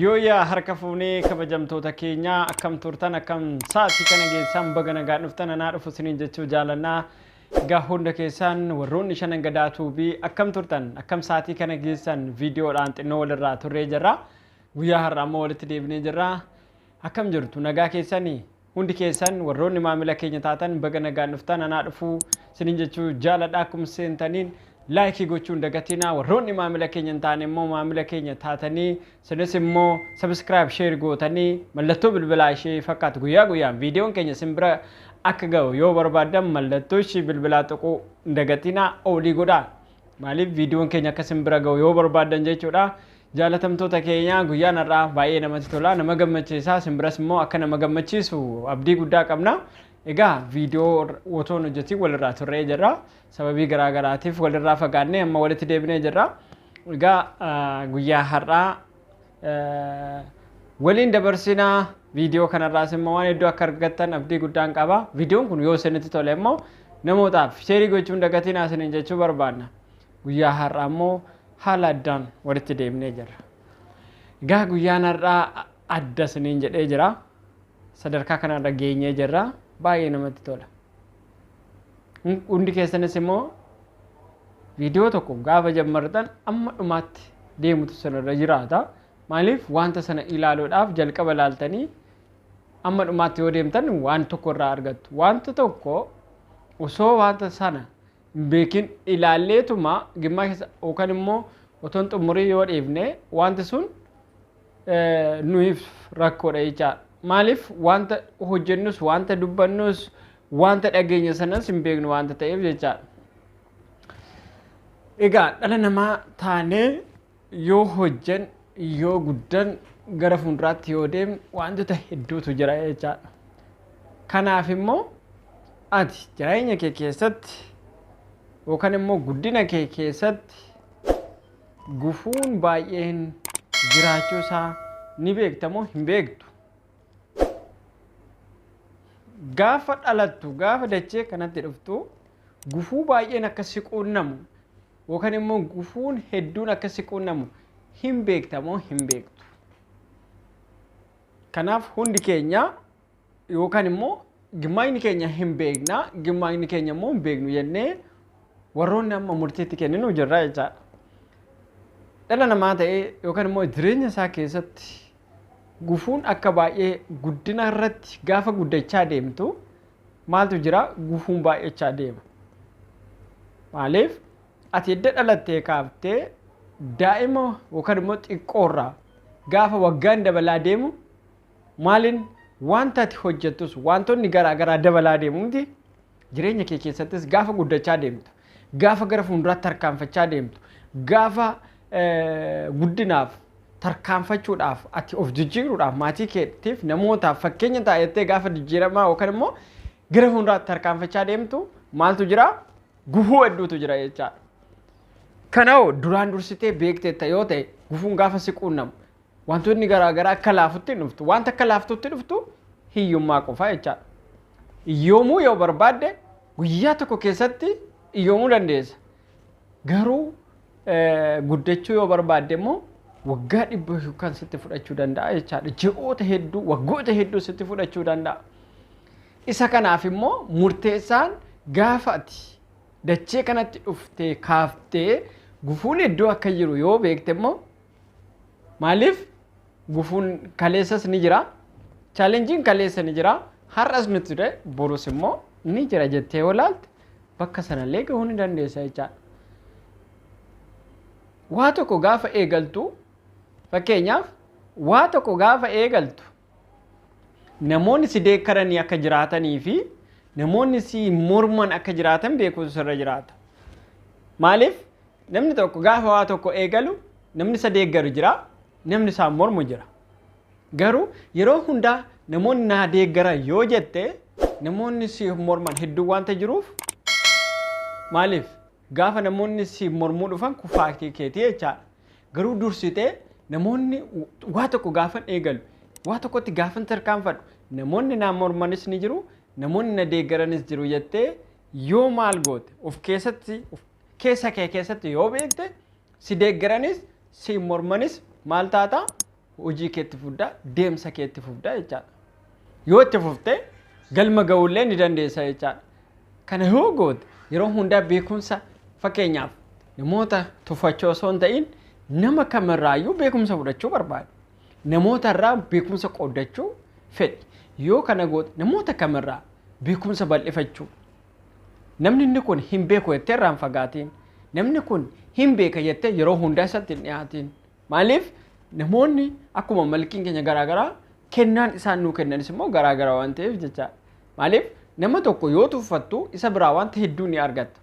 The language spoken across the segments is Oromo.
Yooyyaa harka fuunee kabajamtoota keenyaa akkam turtan akkam sa'aatii kana geessaan baga nagaa dhuftan anaa dhufu isiniin jechuu jaalannaa egaa hunda keessaan warroonni shanan gadaa tuubii akkam turtan akkam sa'aatii kana geessan viidiyoodhaan xinnoo walirraa turree jirra guyyaa har'a ammoo walitti deebinee jirra akkam jirtu nagaa keessanii Hundi keessan warroonni maamila keenya taatan baga nagaan dhuftan anaa dhufuu sinin jechuu jaaladha akkuma seentaniin like gochuu hin dagatinaa warroonni maamila keenya hin taane immoo maamila keenya taatanii sinis immoo subscribe share gootanii mallattoo bilbilaa ishee fakkaatu guyyaa guyyaan viidiyoon keenya sin bira akka ga'u yoo barbaaddan mallattoo ishee bilbilaa tuquu hin dagatinaa olii godhaa maaliif viidiyoon keenya akka sin bira ga'u yoo barbaaddan jechuudha Jaalatamtoota keenya guyyaan har'aa baay'ee namatti tola nama gammachiisa isin biras immoo akka nama gammachiisu abdii guddaa qabna. Egaa viidiyoo otoo hin hojjetiin walirraa turree jirra. Sababii garaa garaatiif walirraa fagaannee amma walitti deebinee jirra. Egaa ah, guyyaa har'aa eh, waliin dabarsina viidiyoo kanarraas immoo waan hedduu akka argattan abdii guddaan qaba. Viidiyoon kun yoo isinitti tole immoo namootaaf sheerii gochuun dagatiin isiniin jechuu barbaanna. Guyyaa har'aa immoo haala addaan walitti deemnee jirra. Egaa guyyaan har'aa adda isiniin jedhee jira. Sadarkaa kanarra geenyee jirra. Baay'ee namatti tola. Hundi keessanis immoo viidiyoo tokko gaafa jammartan amma dhumaatti deemutu sanarra jiraata. Maaliif wanta sana ilaaluudhaaf jalqaba ilaaltanii amma dhumaatti yoo deemtan waan tokko irraa argattu. Wanta tokko osoo wanta sana hin beekin ilaalleetuma gimmaa keessa yookaan immoo otoo hin xumurii yoo dhiifne wanti sun nuuf rakkoodha jechaadha. Maaliif wanta hojjennus wanta dubbannus wanta dhageenya sanas hin beeknu wanta ta'eef jechaadha. Egaa dhala namaa taanee Yoo hojjan yoo guddan gara fuulduraatti yoo deem waantota hedduutu jira jechaadha. Kanaaf immoo ati jireenya kee keessatti yookaan immoo guddina kee keessatti gufuun baay'een jiraachuu isaa ni beekta moo hin beektu? Gaafa dhalattu gaafa dachee kanatti dhuftu gufuu baay'een akka si quunnamu Yookan immoo gufuun hedduun akka si quunnamu hin beekta moo hin beektu? Kanaaf hundi keenya yookaan immoo gimmaayni keenya hin beekna, gimmaayni keenya immoo hin beeknu jennee warroonni amma murtiitti kenninu jirra jechaadha. Dhala namaa ta'ee yookaan immoo jireenya isaa keessatti gufuun akka baay'ee guddina irratti gaafa guddachaa deemtu Maaltu jira gufuun baay'achaa deema. Maaliif ati edda dhalattee kaaftee daa'ima yookaan immoo xiqqoorraa gaafa waggaan dabalaa deemu maaliin wanta ati hojjettus wantoonni garaa garaa dabalaa deemu miti jireenya kee keessattis gaafa guddachaa deemtu Gaafa gara fuulduraatti tarkaanfachaa deemtu, gaafa guddinaaf tarkaanfachuudhaaf ati of jijjiiruudhaaf maatii keetiif namootaaf fakkeenya ta'a jettee gaafa jijjiiramaa yookaan immoo gara fuulduraatti tarkaanfachaa deemtu maaltu jira? Gufuu hedduutu jira jechaadha. Kanaaf duraan dursitee beekteetta yoo ta'e gufuun gaafa si quunnamu Wantootni garaa garaa akka laafutti hin dhuftu. Wanta akka laaftutti dhuftu hiyyummaa qofaa jechaadha. Hiyyoomuu yoo barbaadde guyyaa tokko keessatti hiyyoomuu dandeessa. Garuu guddachuu yoo barbaadde immoo waggaa dhibba kan sitti fudhachuu danda'a jechaadha. Ji'oota hedduu, waggoota hedduu sitti fudhachuu danda'a. Isa kanaaf immoo murteessaan gaafa ati dachee kanatti dhuftee kaaftee gufuun iddoo akka jiru yoo beekte immoo Maaliif gufuun kaleessas ni jira. Chaalenjiin kaleessa ni jira. Har'as ni ture borus immoo ni jira jettee yoo ilaalte bakka sanallee gahuu ni dandeessa jechaadha. Waa tokko gaafa eegaltu fakkeenyaaf waa tokko gaafa eegaltu namoonni si deekkaranii akka jiraatanii fi namoonni si morman akka jiraatan beekuun sirra jiraata. Maaliif namni tokko gaafa waa tokko eegalu namni isa deeggaru jira, namni isaa mormu jira. Garuu yeroo hundaa namoonni naa deeggaran yoo jette namoonni si morman hedduu waanta jiruuf maaliif gaafa namoonni si mormuu dhufan kufaaktii keetii jechaadha. Garuu dursitee namoonni waa tokko gaafan eegalu, waa tokkotti gaafan tarkaanfadhu, namoonni naa mormanis ni jiru, namoonni na deeggaranis jiru jettee yoo maal goote of keessatti keessa kee keessatti yoo beekte si deeggaranis si mormanis maal taata? hojii keetti fuddaa deemsa keetti fufda jechaadha. Yoo itti fufte galma ga'ullee ni dandeessa jechaadha. Kana yoo goote yeroo hundaa beekumsa fakkeenyaaf namoota tuffachuu osoo hin ta'in nama kamirraayyuu beekumsa fudhachuu barbaada. Namoota irraa beekumsa qooddachuu fedhi. Yoo kana goote namoota kamirraa beekumsa bal'ifachuu. Namni inni kun hin beeku jettee irraan fagaatiin. Namni kun hin beeka jettee yeroo hundaa isatti hin dhiyaatiin. Maaliif namoonni akkuma malkiin keenya garaa garaa kennaan isaan nuu kennanis immoo garaa garaa waan ta'eef jecha. Maaliif nama tokko yoo tuffattu isa biraa wanta hedduu ni argatta.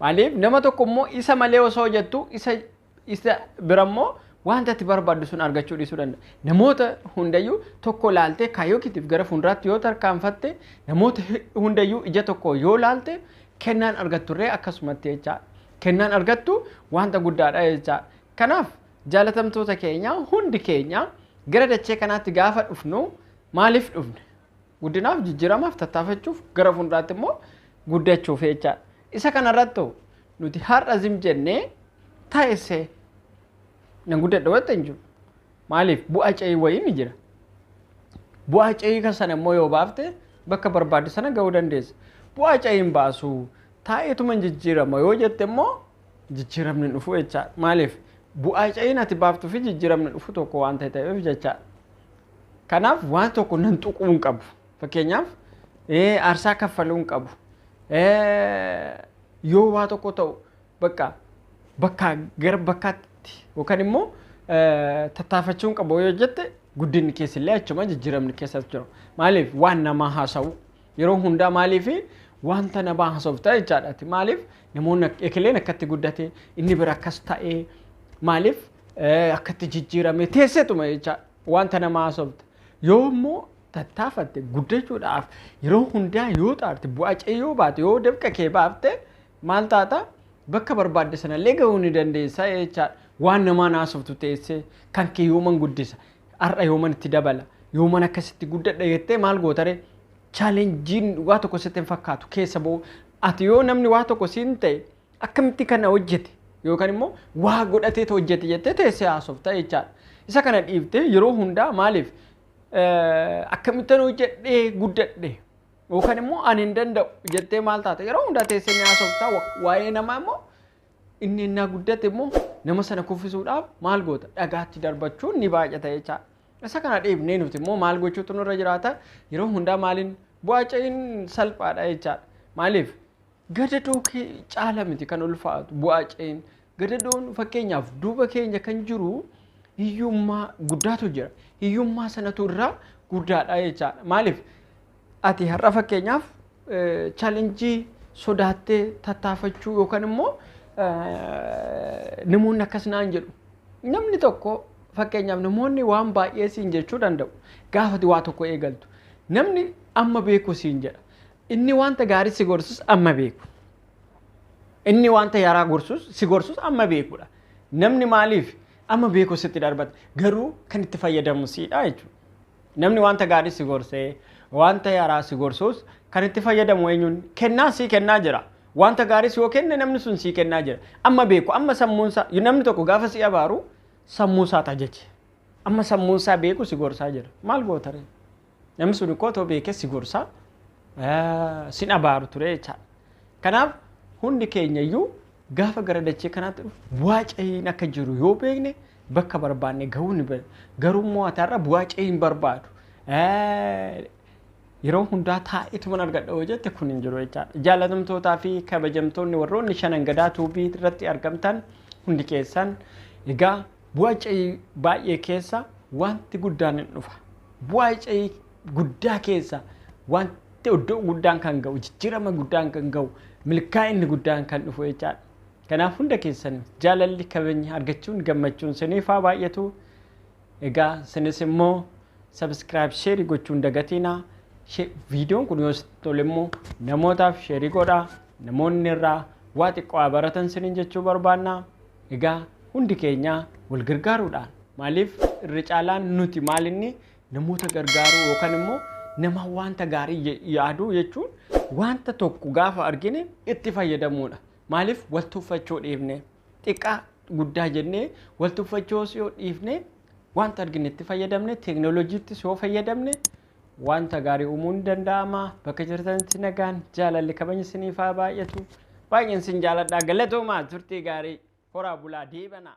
Maaliif nama tokko immoo isa malee osoo hojjettu isa isa bira immoo wanta itti barbaaddu sun argachuu dhiisuu danda'a. Namoota hundayyuu tokko laaltee kaayyoo keetiif gara fuulduraatti yoo tarkaanfatte namoota hundayyuu ija tokko yoo laalte kennaan argatturree akkasumatti jecha. Kennaan argattu wanta guddaadha jecha. Kanaaf jaalatamtoota keenya hundi keenya gara dachee kanaatti gaafa dhufnu maaliif dhufne? Guddinaaf, jijjiiramaaf, tattaafachuuf, gara fuulduraatti immoo guddachuuf jechaadha. Isa kanarrattu nuti har'a zim jennee taa'essee nan guddadha wanta hin jiru. Maaliif bu'aa ce'ii wayii ni jira. Bu'aa ce'ii kan sana immoo yoo baafte bakka barbaadde sana ga'uu dandeessa. Bu'aa ce'iin baasuu taa'eetuma hin jijjiirama yoo jette immoo jijjiramni dhufu jechaa maaliif bu'aa ca'iin ati baaftuu fi jijjiramni dhufu tokko waan ta'e ta'eef jechaa kanaaf waan tokko nan tuquu hin qabu fakkeenyaaf ee, aarsaa kaffaluu hin qabu Ee, yoo waa tokko ta'u bakka bakkaa gara bakkaatti yookaan immoo ee, tattaafachuu hin qabu yoo jette guddinni keessillee achuma jijjiramni keessas jiru maaliif waan namaa haasa'u Yeroo hundaa maaliif wanta nabaa hasofta jechaadha. Ati maaliif namoonni ekeleen akkatti guddate inni bira akkas ta'e maaliif akkatti jijjiirame teessetuma jecha wanta namaa hasofta. Yoo immoo tattaafatte guddachuudhaaf yeroo hundaa yoo xaarte bu'aa cee yoo baate yoo dafqa kee baafte maal taata bakka barbaadde sanallee gahuu ni dandeessa jechaadha. Waan namaa naasoftu teessee kan kee yooman guddisa Har'a yooman itti dabala, yooman akkasitti guddadha jettee maal gootare? Chaalenjiin waa tokko sitti hin fakkaatu keessa ba'u. Ati yoo namni waa tokko siin ta'e akkamitti kana hojjete yookaan immoo waa godhateetu hojjete jettee teessee haasofta jechaadha. Isa kana dhiiftee yeroo hundaa maaliif akkamittan hojjedhee guddadhe yookaan immoo ani hin danda'u jettee maal taata? Yeroo hundaa teessee ni haasofta waa'ee namaa immoo Inni ennaa guddate immoo nama sana kuffisuudhaaf maal goota? Dhagaatti darbachuun ni baay'ata jecha. Isa kana dhiifnee nuti immoo maal gochuutu nurra jiraata? Yeroo hundaa maaliin bu'aaca'iin salphaadha jechaadha. Maaliif? Gadadoo kee caala miti kan ulfaatu bu'aaca'iin. Gadadoon fakkeenyaaf duuba keenya kan jiru hiyyummaa guddaatu jira. Hiyyummaa sanatu irraa guddaadha jechaadha. Maaliif? Ati har'a fakkeenyaaf challenge sodaattee tattaafachuu yookaan immoo namoonni akkas naan jedhu. Namni tokko fakkeenyaaf namoonni waan baay'ee siin jechuu danda'u. Gaafati waa tokko eegaltu. Namni amma beeku siin jedha. Inni wanta gaarii si gorsus amma beeku. Inni wanta yaraa gorsus si gorsus amma beekudha. Namni maaliif amma beeku sitti darbata. Garuu kan itti fayyadamu siidha jechuudha. Namni wanta gaarii si gorsee, wanta yaraa si gorsuus kan itti fayyadamu eenyuun kennaa sii kennaa jira. Wanta gaariis yoo kenne namni sun sii kennaa jira. Amma beeku, amma sammuunsaa, namni tokko gaafa si abaaru sammuusaat ajaje. Amma sammuunsaa beeku si gorsaa jira. Maal gootaree? Namni sun ikkoo otoo beekee si gorsaa sin abaaru turee jechaadha. Kanaaf hundi keenyayyuu Gaafa gara dachee kanaatti dhufnu bu'aa ce'iin akka jiru yoo beekne bakka barbaanne gahuu ni beekna. Garuu immoo ati har'a bu'aa ce'ii hin barbaadu. Yeroo hundaa taa'eetuman argadha yoo jette kun hin jiru jechaadha. Jaalatamtootaa fi kabajamtoonni warroonni shanan gadaa tuubii irratti argamtan hundi keessan egaa bu'aa ce'ii baay'ee keessa wanti guddaan hin dhufa. Bu'aa ce'ii guddaa keessa wanti iddoo guddaan kan ga'u jijjiirama guddaan kan ga'u milkaa'inni guddaan kan dhufu jechaadha. Kanaaf hunda keessan jaalalli kabajni argachuun gammachuun siniif haa baay'atu. Egaa sinis immoo sabiskiraayib sheerii gochuun dagatiinaa. Viidiyoon kun yoo sitti tole immoo namootaaf sheerii godhaa. Namoonni irraa waa xiqqoo haa baratan siniin jechuu barbaanna. Egaa hundi keenyaa wal gargaaruudhaan maaliif irra caalaan nuti maalinni Namoota gargaaruu yookaan immoo nama wanta gaarii je- yaaduu jechuun wanta tokko gaafa argine itti fayyadamuudha. Maaliif wal tuffachuu dhiifne xiqqaa guddaa jennee wal tuffachuu yoo dhiifne wanta argine itti fayyadamne teeknooloojiittis yoo fayyadamne wanta gaarii uumuun ni danda'ama. Bakka jirtanitti nagaan jaalalli kabajni isiniif haa baay'atu. Baay'een isin jaaladhaa galatoomaa turtii gaarii horaa bulaa deebanaa.